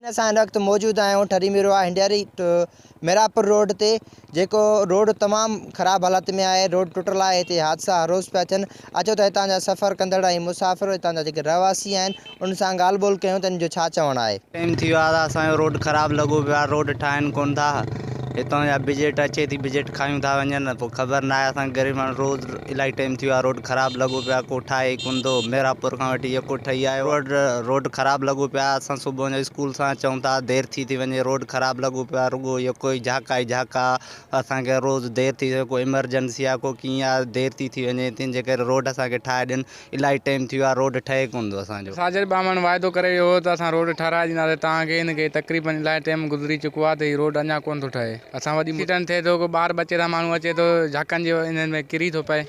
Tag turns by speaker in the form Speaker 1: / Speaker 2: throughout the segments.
Speaker 1: اسان هن وقت موجود آهيون ٺري ميرواهه هنڊياري ميرانپور روڊ تي جيڪو روڊ تمام خراب حالت ۾ آهي روڊ ٽٽل آهي هتي حادثا هر روز پيا ٿين اچو ته هتان جا سفر ڪندڙ ۽ مسافر هتان جا جيڪي رهواسي آهن انهن سان ڳالهه ٻولهه ڪيون ته انهن جو ڇا چوڻ آهي. ٽيم ٿي ويو آهي ته اسان جو
Speaker 2: روڊ خراب لڳو پيو آهي روڊ ٺاهين ڪون ٿا هتان جا بجيٽ اچي ٿي بجيٽ کايون ٿا وڃن پوء خبر ناهي اسان غريب ماڻهو روز الاهي ٽيم ٿي ويو آ روڊ خراب لڳو پيو آ ڪو ٺاهي ڪون ٿو ميرابور کان وٺي ايئر پورٽ ٺهي آيو روڊ روڊ خراب لڳو پيو آ اسان صبح جو اسڪول سان اچون ٿا دير ٿي ٿي وڃي روڊ خراب لڳو پيو آ رڳو اهي ڪوئي جهاڪا ئي جهاڪا اسان کي روز دير ٿي ڪو ايمرجنسي آ ڪو ڪيئن آ دير ٿي ٿي وڃي تنهنجي ڪري روڊ اسان کي ٺاهي ڏين الائي ٽيم ٿي ويو آ روڊ ٺهي ڪون ٿو اسان جو. ساجد ٻانهن واعدو
Speaker 3: ڪري ويو هو ته اسان روڊ ٺهرائي ڏينداسين توهان کي ان کي تقريبن الائي ٽيم گذري چڪو آ ته هي روڊ اڃا ڪون ٿو ٺهي اسان وڏي ايڪسيڊنٽ ٿئي ٿو ڪو ٻار ٻچي سان ماڻهو اچي ٿو جهاڪن جي انهن ۾ ڪري ٿو پئي.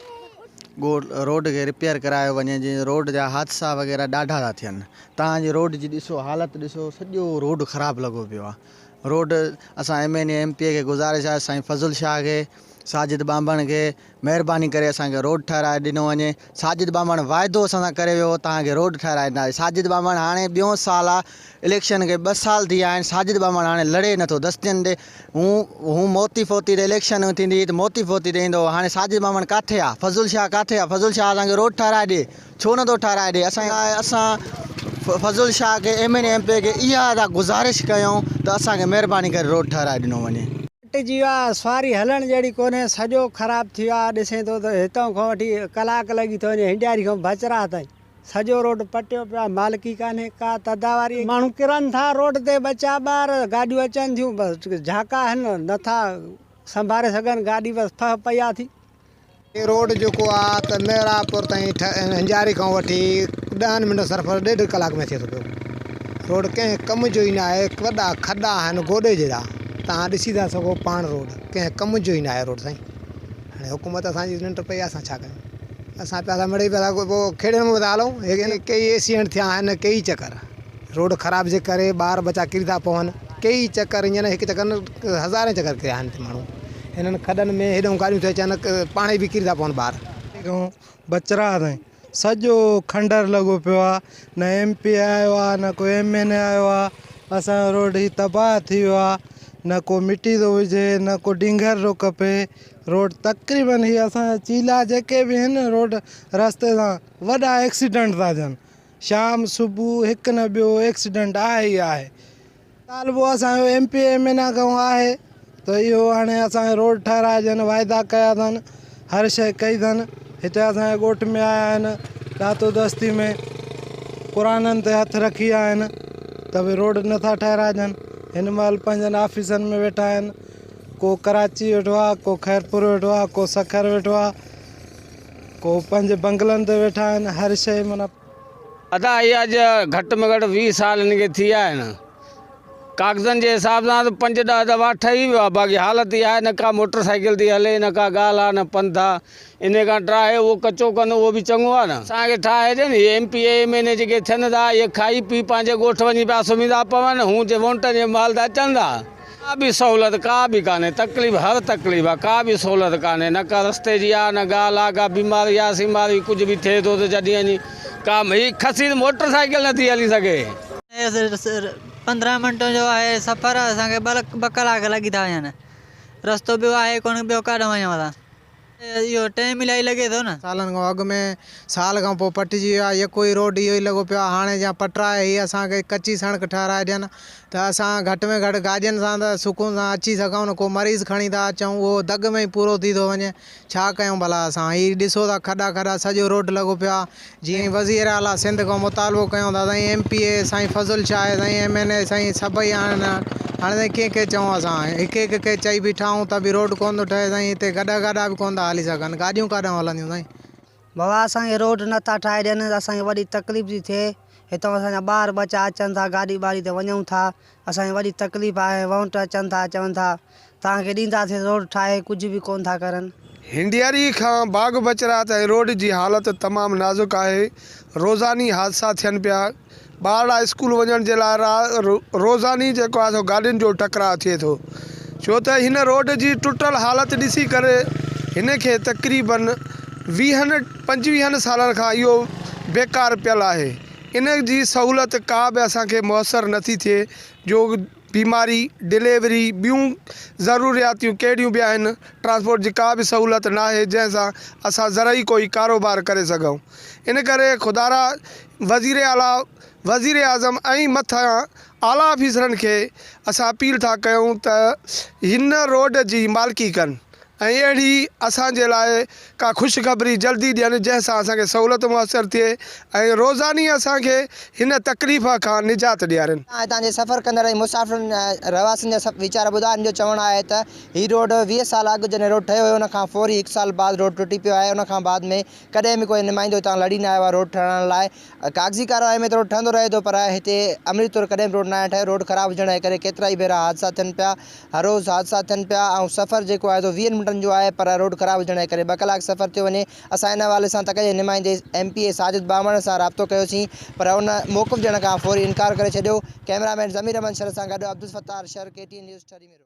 Speaker 3: ڳوٺ روڊ
Speaker 4: کي رپيئر ڪرايو وڃي جي روڊ جا حادثا وغيره ڏاڍا ٿا ٿين توهان جي روڊ جي ڏسو حالت ڏسو سڄو روڊ خراب لڳو پيو آ روڊ اسان M N A M P A کي گذارش آ سائين فضل شاهه کي ساجد ٻانڀڻ کي مهرباني ڪري اسان کي روڊ ٺهرائي ڏنو وڃي ساجد ٻانڀڻ واعدو اسان سان ڪري ويو هو توهان کي روڊ ٺهرائي ڏينداسين ساجد ٻانڀڻ هاڻي ٻيو سال آ اليڪشن کي ٻه سال ٿي ويا آهن ساجد ٻانڀڻ هاڻي لڙي نٿو دستين تي هون هون موتي فوتي تي اليڪشن ٿيندي هئي ته موتي فوتي تي ايندو هو هاڻي ساجد ٻانڀڻ ڪاٿي آ فضل شاهه ڪاٿي آ فضل شاهه اسان کي روڊ ٺهرائي ڏي ڇو نٿو ٺهرائي ڏي اسان اسان فضل شاهه کي M N A M P کي اها ادا گذارش ڪيون ته اسان کي مهرباني ڪري روڊ ٺهرائي ڏنو وڃي. ٽٽي جي ويا،
Speaker 5: سواري هلڻ جهڙي ڪونهي، سڄو خراب ٿي ويو آهي، ڏسين ٿو ته هتان کان وٺي ڪلاڪ لڳي ٿو وڃي هنڊياري کان بچراهه تائين، سڄو روڊ پٽيو پيو آهي، مالڪي ڪانهي، ڪا تداواري، ماڻهو ڪرن ٿا روڊ تي ٻچا ٻار، گاڏيون اچن ٿيون بس جهاڪا آهن، نٿا سنڀاري سگهن گاڏي، بس ڦهه پئي آهي ٿي، هي روڊ
Speaker 6: جيڪو آ ته محرابپور تائين هنجاري کان وٺي ڏهن منٽن سرفر ڏيڍ ڪلاڪ ۾ ٿئي ٿو پيو. روڊ ڪنهن ڪم جو ئي ناهي وڏا کڏا آهن گوڏي جيڏا توهان ڏسي ٿا سگهو پاڻ روڊ ڪنهن ڪم جو ئي ناهي روڊ سائين هاڻي حڪومت اسان جي ننڊ پئي آ اسان ڇا ڪيون اسان پيا ٿا مڙئي پيا ٿا کيڙين ۾ پيا ٿا هلون ڪيئي ايڪسيڊنٽ ٿيا آهن ڪيئي چڪر. روڊ خراب جي ڪري ٻار ٻچا ڪري ٿا پون ڪيئي چڪر ايئن هڪ چڪر نه هزارين چڪر ڪريا آهن هتي ماڻهو هنن کڏن ۾ هيڏون گاڏيون ٿي اچن پاڻهي به ڪري ٿا پون ٻار کان بچڙا
Speaker 7: تائين سڄو کنڊر لڳو پيو آهي نه ايم پي آيو آهي نه ڪو ايم اين اي آيو آهي اسان جو روڊ هي تباهه ٿي ويو آهي نه ڪو مٽي ٿو وجهي نه ڪو ڊينگر ٿو ڪپي روڊ تقريبن هي اسان جا چيلا جيڪي به آهن روڊ رستي سان وڏا ايڪسيڊنٽ ٿا ٿين شام صبح هڪ نه ٻيو ايڪسيڊنٽ آهي ئي آهي. مطالبو اسان جو M P M N A کان آهي ته اهو هاڻي اسان کي روڊ ٺهرائجن واعدا ڪيا اٿن هر شيء ڪئي اٿن هتي اسان جي ڳوٺ ۾ آيا آهن ڏاتو دستي ۾ قرآنن تي هٿ رکي آيا آهن ته به روڊ نٿا ٺهرائجن هن مهل پنهنجن آفيسن ۾ ويٺا آهن ڪو ڪراچي ويٺو آهي ڪو خيرپور ويٺو آهي ڪو سکر ويٺو آهي ڪو پنهنجي بنگلن تي ويٺا آهن هر شيء معنيٰ. ادا هي
Speaker 3: اڄ گهٽ ۾ گهٽ ويهه سال هن کي ٿي ويا آهن ڪاغذن جي حساب سان ته پنج ڏهه دفعا ٺهي ويو آهي باقي حالت اها آهي نه ڪا موٽر سائيڪل ٿي هلي نه ڪا ڳالهه آهي نه پنڌ آهي انهي کان ٽراهي اهو ڪچو ڪن اهو به چڱو آهي نه اسان کي ٺاهي ڏين هي M P M N A جيڪي ٿين ٿا اهي کائي پي پنهنجي ڳوٺ وڃي پيا سمهي ٿا پون هون جي وونٽن جي مهل ته اچن ٿا ڪا به سهولت ڪا به ڪانهي تڪليف هر تڪليف آ ڪا به سهولت ڪانهي نه ڪا رستي جي آ نه ڳالهه آ ڪا بيماري آ سيماري ڪجهه به ٿئي ٿو ته جڏهن اڃي ڪا هي کسي ته موٽر سائيڪل نٿي هلي سگهي.
Speaker 8: پندرهن منٽن جو آهي سفر اسان کي ٻه ڪلاڪ لڳي ٿا وڃن رستو ٻيو آهي ڪونه ٻيو ڪاڏهن وڃون اسان. اهو ٽيم الائي لڳي ٿو نه. سالن کان اڳ ۾
Speaker 6: سال کان پوء پٽجي ويو آهي يڪو هي روڊ اهو ئي لڳو پيو آهي هاڻي جا پٽرا هي اسان کي ڪچي سڻڪ ٺهرائي ڏين ته اسان گهٽ ۾ گهٽ گاڏين سان ته سڪون سان اچي سگهون نه ڪو مريض کڻي ٿا اچون اهو دڳ ۾ ئي پورو ٿي ٿو وڃي ڇا ڪيون ڀلا اسان هي ڏسو ٿا کڏا کڏا سڄو روڊ لڳو پيو آهي جيئن ئي وزير اعليٰ سنڌ کان مطالبو ڪيون ته سائين ايم پي اي سائين فضل شاهه ۽ سائين ايم اين اي سائين سڀئي آهن هاڻي سائين ڪنهن کي چئون اسان هڪ هڪ کي چئي بيٺا آهيون ته به روڊ ڪونه ٿو ٺهي سائين هتي گڏها گاڏا به ڪونه ٿا هلي سگهن گاڏيون ڪاڏانهن هلنديون سائين. بابا اسان
Speaker 5: کي روڊ نه ٿا ٺاهي ڏين اسان کي وڏي تڪليف ٿي ٿئي هتان اسان جا ٻار ٻچا اچن ٿا گاڏي ٻاڙي تي وڃون ٿا اسان کي وڏي تڪليف آهي وونٽ اچن ٿا چون ٿا توهان کي ڏينداسين روڊ ٺاهي ڪجهه به ڪون ٿا ڪرن. هنڊيري کان
Speaker 9: باغ بچرات ۽ روڊ جي حالت تمام نازڪ آهي روزاني حادثا ٿين پيا ٻارڙا اسڪول وڃڻ جي لاء را روزاني جيڪو آهي سو گاڏين جو ٽڪراء ٿئي ٿو ڇو ته هن روڊ جي ٽٽل حالت ڏسي ڪري هن کي تقريبن ويهن پنجويهن سالن کان اهو بيڪار پيل آهي ان جي سهولت ڪا به اسان کي ميسر نٿي ٿئي جو بيماري ڊليوري ٻيون ضرورياتيون ڪهڙيون به آهن ٽرانسپورٽ جي ڪا به سهولت نه آهي جنهن سان اسان زرعي ڪوئي ڪاروبار ڪري سگهون ان ڪري خدارا وزير اعليٰ وزير اعظم ۽ مٿان اعليٰ آفيسرن کي اسان اپيل ٿا ڪيون ته هن روڊ جي مالڪي ڪن. ۽ اهڙي اسان جي لاء ڪا خوشخبري جلدي ڏين جنهن سان اسان کي سهولت ميسر ٿئي ۽ روزاني اسان کي هن تڪليف کان نجات ڏيارين. اسان هتان جي سفر ڪندڙ
Speaker 1: ۽ مسافرن ۽ رهواسين جا سڀ ويچار ٻڌا ان جو چوڻ آهي ته هي روڊ ويهه سال اڳ جڏهن روڊ ٺهيو هيو ان کان فوري هڪ سال بعد روڊ ٽٽي پيو آهي ان کان بعد ۾ ڪڏهن به ڪوئي نمائندو هتان لڙي نه آيو آهي روڊ ٺهرائڻ لاء ڪاغذي ڪارروائي ۾ ٿورو ٺهندو رهي ٿو پر هتي عملي طور ڪڏهن به روڊ ناهي ٺهيو، روڊ خراب هجڻ جي ڪري ڪيترائي ڀيرا حادثا ٿين پيا، هر روز حادثا ٿين پيا ۽ سفر جيڪو آهي سو ويهن منٽن جو آهي پر روڊ خراب هجڻ جي ڪري ٻه ڪلاڪ سفر ٿيو وڃي، اسان ان حوالي سان تڪ جي نمائندي ايم پي اي ساجد ٻانڀڻ سان رابطو ڪيوسين پر ان موقف ڏيڻ کان فوري انڪار ڪري ڇڏيو، ڪئميرا مين ضمير احمد شر سان گڏ Abdul Sattar Shar K T N news Thari ميرو.